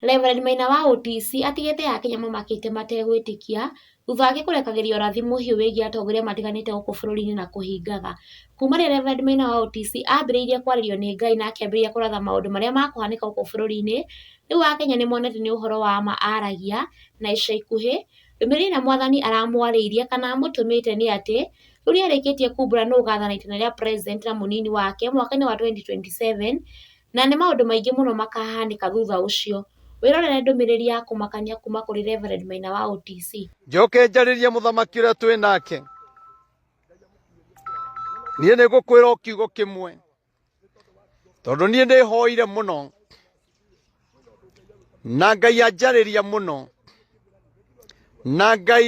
Rev Maina wa UTC atigĩte Akenya mamakĩte mategwĩtĩkia thutha wake kũrekagĩria ũrathi mũhiũ wĩgiĩ atongoria matiganĩte gũkũ bũrũri-inĩ na kũhingaga. Kuuma rĩrĩa Rev Maina wa UTC aambĩrĩirie kwarĩrio nĩ Ngai na akĩambĩrĩria kũratha maũndũ marĩa makũhanĩka gũkũ bũrũri-inĩ, rĩu Akenya nĩ monete nĩ ũhoro wa ma aragia, na ica ikuhĩ, ndũmĩrĩri ĩrĩa mwathani aramwarĩirie kana amũtũmĩte nĩ atĩ, rĩu nĩ arĩkĩtie kuumbũra nũ ũgathana itĩna rĩa president na mũnini wake mwaka-inĩ wa 2027, Na nĩ maũndũ maingĩ mũno makaahanĩka thutha ũcio. Wĩrorere ndũmĩrĩri ya kũmakania kuuma kũrĩ Rev Maina wa OTC. Njoke njarĩrie mũthamaki ũrĩa twĩ nake. Niĩ nĩ ngũkwĩra o kiugo kĩmwe, tondũ niĩ nĩ hoire mũno na Ngai anjarĩria mũno na Ngai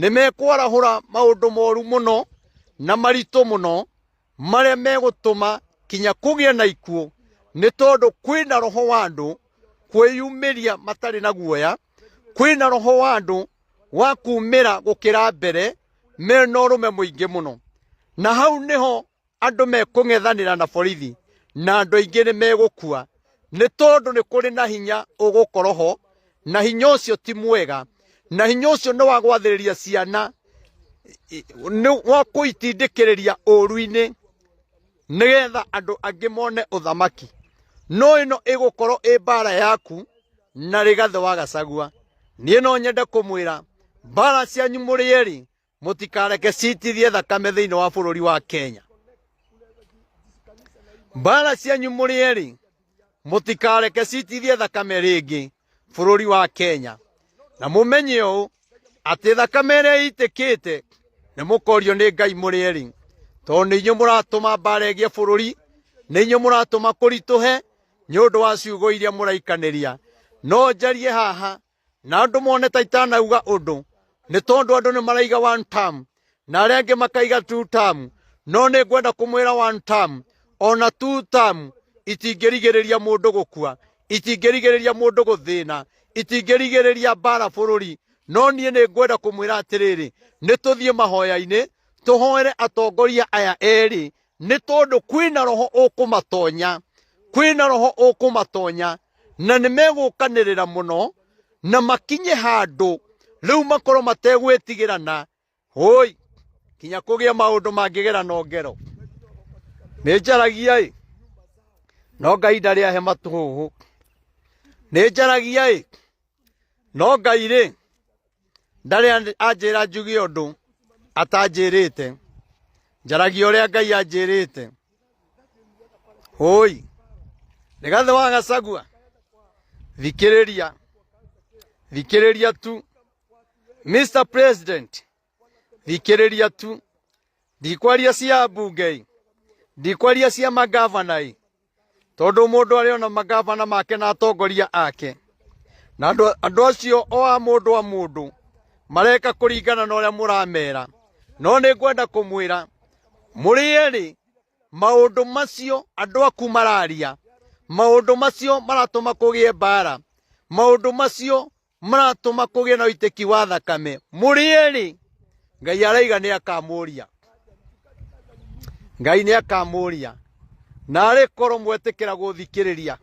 nĩ mekwarahũra maũndũ moru mũno na maritũ mũno marĩa megũtũma kinya kũgĩa na ikuũ nĩ tondũ kwĩna roho wa andũ kwĩyumĩria matarĩ na guoya kwĩna roho wa andũ wa kumĩra gũkĩra mbere mena ũrũme mũingĩ mũno na hau nĩho andũ mekũng'ethanĩra na borithi na andũ aingĩ nĩ megũkua nĩ tondũ nĩ kũrĩ na hinya ũgũkorwo ho na hinya ũcio ti mwega na hinya ũcio nĩ wa gwathĩrĩria ciana i- nĩ wa kũitindĩkĩrĩria ũru-inĩ nĩgetha andũ angĩ mone ũthamaki no ĩno ĩgũkorwo ĩ mbara yaku na rĩgathĩ wa gacagua niĩ no nyende kũmwĩra mbara cianyu mũrĩ erĩ mũtikareke citithie thakame thĩinĩ wa bũrũri wa kenya mbara cianyu mũrĩ erĩ mũtikareke citithie thakame rĩngĩ bũrũri wa kenya na mũmenye ũũ atĩ thakame ĩrĩa ĩitĩkĩte nĩ mũkorio nĩ ngai mũrĩ erĩ tondũ nĩ inyuĩ mũratũma mbara ĩgĩe bũrũri nĩ inyuĩ mũratũma kũritũhe nĩ ũndũ wa ciugo iria mũraikanĩria no njarie haha na andũ mone ta itanauga ũndũ nĩ tondũ andũ nĩ maraiga one term na arĩa angĩ makaiga two term no nĩ ngwenda kũmwĩra one term ona two term itingĩrigĩrĩria mũndũ gũkua itingĩrigĩrĩria mũndũ gũthĩna itingĩrigĩrĩria mbara bũrũri no niĩ nĩ ngwenda kũmwĩra atĩrĩrĩ nĩ tũthiĩ mahoya-inĩ tũhoere atongoria aya erĩ nĩ tondũ kwĩna roho ũkũmatonya kwĩna roho ũkũmatonya na nĩ megũkanĩrĩra mũno na makinye handũ rĩu makorwo mategwĩtigĩrana hoi kinya kũgĩa maũndũ mangĩgera na ngero nĩ njaragia ĩ no ngai ndarĩ ahe matũhũhũ nĩ njaragia ĩ no ngai rĩ ndarĩ anjĩra njuge ũndũ atanjĩrĩte njaragia ũrĩa ngai anjĩrĩte hũi rĩgathĩ wa gacagua thikĩrĩria thikĩrĩria tu mr president thikĩrĩria tu ndikwaria cia mbunge ndikwaria cia magavana tondũ mũndũ arĩ ona magavana make na atongoria ake na andũ andũ acio o a mũndũ a mũndũ mareka kũringana na ũrĩa mũramera no nĩ ngwenda kũmwĩra mũrĩ erĩ maũndũ macio andũ aku mararia maũndũ macio maratũma kũgĩe mbara maũndũ macio maratũma kũgĩe na ũitĩki wa thakame mũrĩerĩ ngai araiga nĩ akamũria ngai nĩ akamũria narĩ korwo mwetĩkĩra gũthikĩrĩria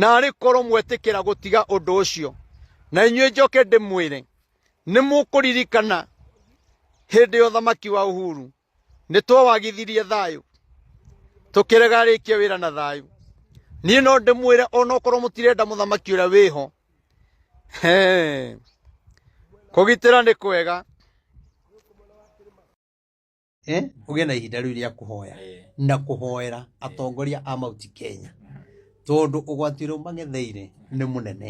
narĩ korwo mwetĩkĩra gũtiga ũndũ ũcio na inyuĩ njoke ndĩmwĩre nĩ mũkũririkana hĩndĩ ya ũthamaki wa uhuru nĩ twawagithirie thayũ tũkĩrega arĩkie wĩra na thayũ niĩ no ndĩmwĩre onokorwo mũtirenda mũthamaki ũrĩa wĩho kũgitĩra nĩ kwega eh, ũgĩe na ihinda rĩu rĩa kũhoya eh. na kũhoera eh. atongoria a mauti kenya tondũ ũgwati ũrĩa ũmang'etheire nĩ mũnene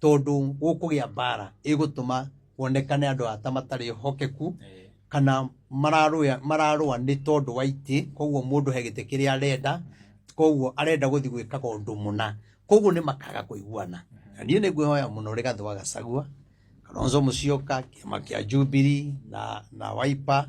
tondũ gũkũgĩa mbara ĩgũtũma kuonekane andũ ata matarĩ hokeku Eh, kana mararũa mararũa nĩ tondũ wa itĩ koguo mũndũ he gĩtĩ kĩrĩa arenda koguo arenda gũthiĩ gwĩkaga ũndũ mũna koguo nĩ makaga kũiguana na niĩ nĩ ngwĩhoya mũno rĩgathũ wa gacagua kalonzo mũcioka kĩama kĩa jubiri na, na waipa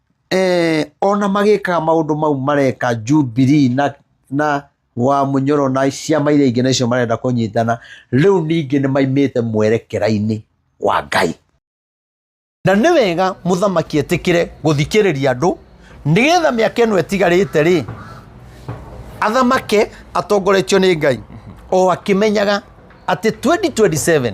eh, ona magĩkaga maũndũ mau mareka jubilee na na wa munyoro na ciama iria ingĩ nacio marenda kũnyitana rĩu ningĩ nĩ maimĩte mwerekera-inĩ wa ngai na nĩ wega mũthamaki etĩkĩre gũthikĩrĩria andũ nĩgetha mĩaka ĩno ĩtigarĩte rĩ athamake atongoretio nĩ ngai o akĩmenyaga atĩ 2027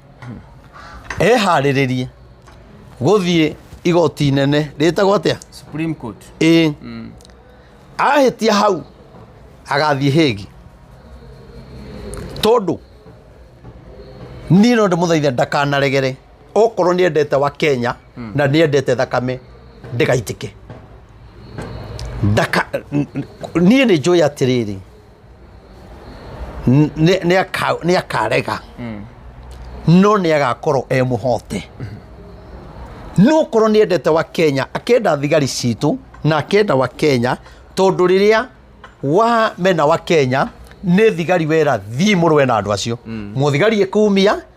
eharĩrĩrie gũthiĩ igoti inene rĩtagwo atĩa Supreme Court. ĩ ahĩtia hau agathiĩ hĩgi tondũ niĩ no ndĩmũthaitha ndakanaregere okorwo nĩ endete wa kenya na nĩ endete thakame ndĩgaitĩke Ndaka- n- n- niĩ nĩ njũĩ atĩrĩrĩ nĩ- nĩ aka- nĩ akarega no nĩ agakorwo e mũhote no korwo nĩ endete wa kenya akenda thigari citũ na akenda wa kenya tondũ rĩrĩa wa mena wa kenya nĩ thigari wera thiĩ mũrũe na andũ acio mũthigari ĩkumia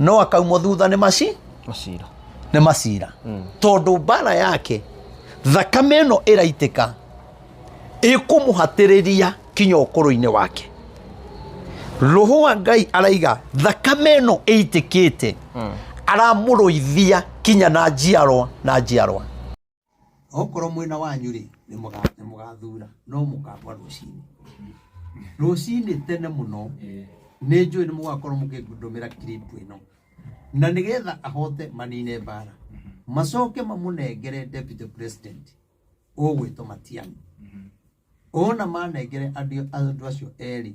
no akaumwo thutha nĩ maci Macira. nĩ macira tondũ mbara yake thakame ĩno ĩraitĩka ĩkũmũhatĩrĩria kinya ũkũrũ-inĩ wake roho wa ngai araiga thakame ĩno ĩitĩkĩte aramũrũithia kinya na njiarwa na njiarwa okorwo mwena wanyu rĩ nĩ mũga- nĩ mũgathura no mũkamba rũcinĩ rũcinĩ tene mũno nĩ njũĩ nĩ mũgakorwo mũkĩndũmĩra kiripu ĩno na nĩgetha ahote manine mbara macoke mamũnengere deputy president ũgwĩtwo matiang'i ona manengere andũ andũ acio erĩ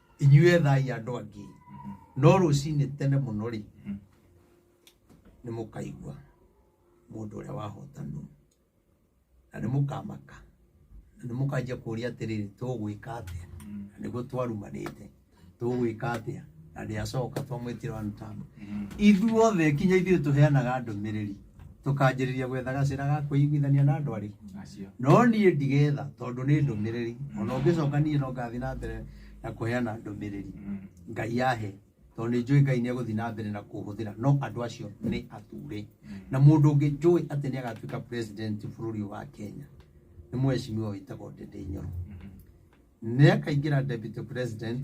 inyuĩ ethai andũ angĩ no rũcinĩ tene mũno rĩ Mm. nĩ mũkaigua mũndũ ũrĩa wahotanwo na nĩ mũkamaka na nĩ mũkanjia kũũria atĩrĩrĩ tũgwĩka atĩa na nĩguo twarumanĩte tũgwĩka atĩa na ndĩacoka twamwĩtĩra wanũtamba ithuothe kinya ithuĩ tũheanaga ndũmĩrĩri tũkanjĩrĩria gwetha gacĩra ga kwĩiguithania na andũ arĩ Acio. no niĩ ndigetha tondũ nĩ ndũmĩrĩri ona ũngĩcoka niĩ no ngathiĩ na mbere na kũheana ndũmĩrĩri Mm. ngai yahe tondũ nĩ njũĩ ngai nĩ egũthiĩ na mbere na kũhũthĩra no andũ acio nĩ ature na mũndũ ũngĩ njũĩ atĩ nĩ agatuĩka president bũrũri ũyũ wa kenya nĩ mwecimiwa wĩtagwo ndĩndĩ nyoro nĩ akaingĩra deputy president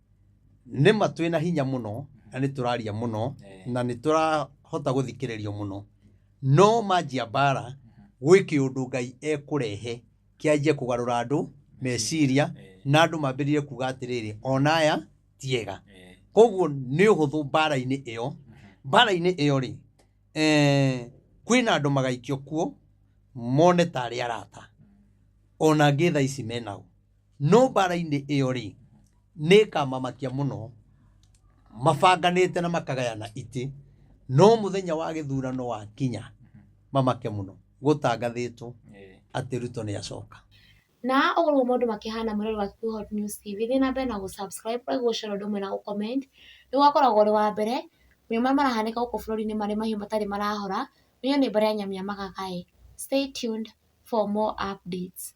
nĩma twĩna hinya mũno na nĩ tũraria mũno Eh. na nĩ tũrahota gũthikĩrĩrio mũno no manjia mbara gwĩ kĩũndũ ngai ekũrehe kĩanjie kũgarũra andũ meciria Eh. na andũ mambĩrĩrie kuga atĩrĩrĩ ona aya tiega Eh. koguo nĩ ũhũthũ mbara-inĩ ĩyo mbara-inĩ ĩyo rĩ eh, kwĩna andũ magaikio kuo mone tarĩ arata ona ngĩ tha ici menao no mbara-inĩ ĩyo rĩ nĩkamamakia mũno mabanganĩte na makagayana itĩ no mũthenya wa gĩthurano wakinya mamake mũno gũtangathĩtwo Eh. atĩ ruto nĩ acoka na ũguo nĩguo maũndũ makĩhana mũrori wa Kivu Hot News TV thiĩ na mbere na gũsubscribe like gũshare ũndũ ũmwe na gũcomment nĩguo akoragwo ũrĩ wa mbere maũndũ marĩa marahanĩka gũkũ bũrũri-inĩ marĩ mahiũ matarĩ marahora nĩyo nĩ mbere ya nyamia magagae stay tuned for more updates